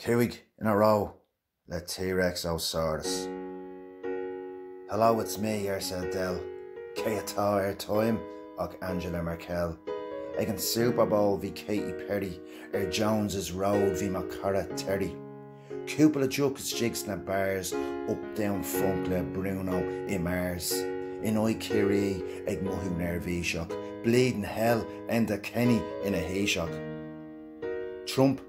Cúig in a row le T-Rex Ó Saurus. Hello it's me, arsa Adele, cé atá ar Time ach Angela Merkel. Ag an Super Bowl bhí Katy Perry ar Jones's Road bhí mo chara Terry. Cúpla deoch istigh sna bars uptown funk le Bruno i Mars. In aghaidh Ciarraí ag mothú neirbhíseach, bleeding hell Enda Kenny ina Thaoiseach.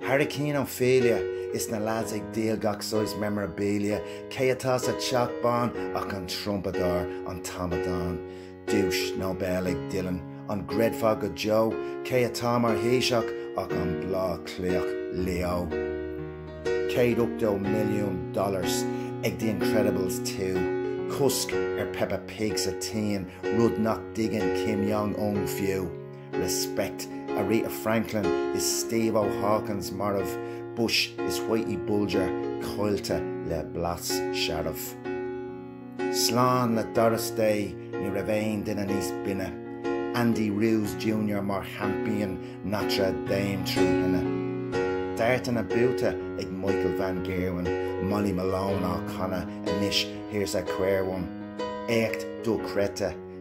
Hurricane Ophelia is na lads ag díol gach saghas memorabilia, cé atá sa teach bán ach an trumpadóir, an t-amadán, duais Nobel ag Dylan, an gcreidfeá go deo, cé atá mar Thaoiseach ach an Bleá Cliathach, Leo, $180 milliún ag The Incredibles 2, cosc ar Peppa Pig sa tSín, rud nach dtuigeann Kim Jong-un fiú. respect, Aretha Franklin is Steve Ó Hawkins marbh, Bush is Whitey Bulger caillte le blas searbh. Slán le Doris Day, ní raibh aon duine níos binne, Andy Ruiz Junior mar Champion Notre Dame trí thine. Dartanna buaite ag Michael Van Gerwen, Molly Malone á canadh anois Here's a Quare One, éacht dochreidte,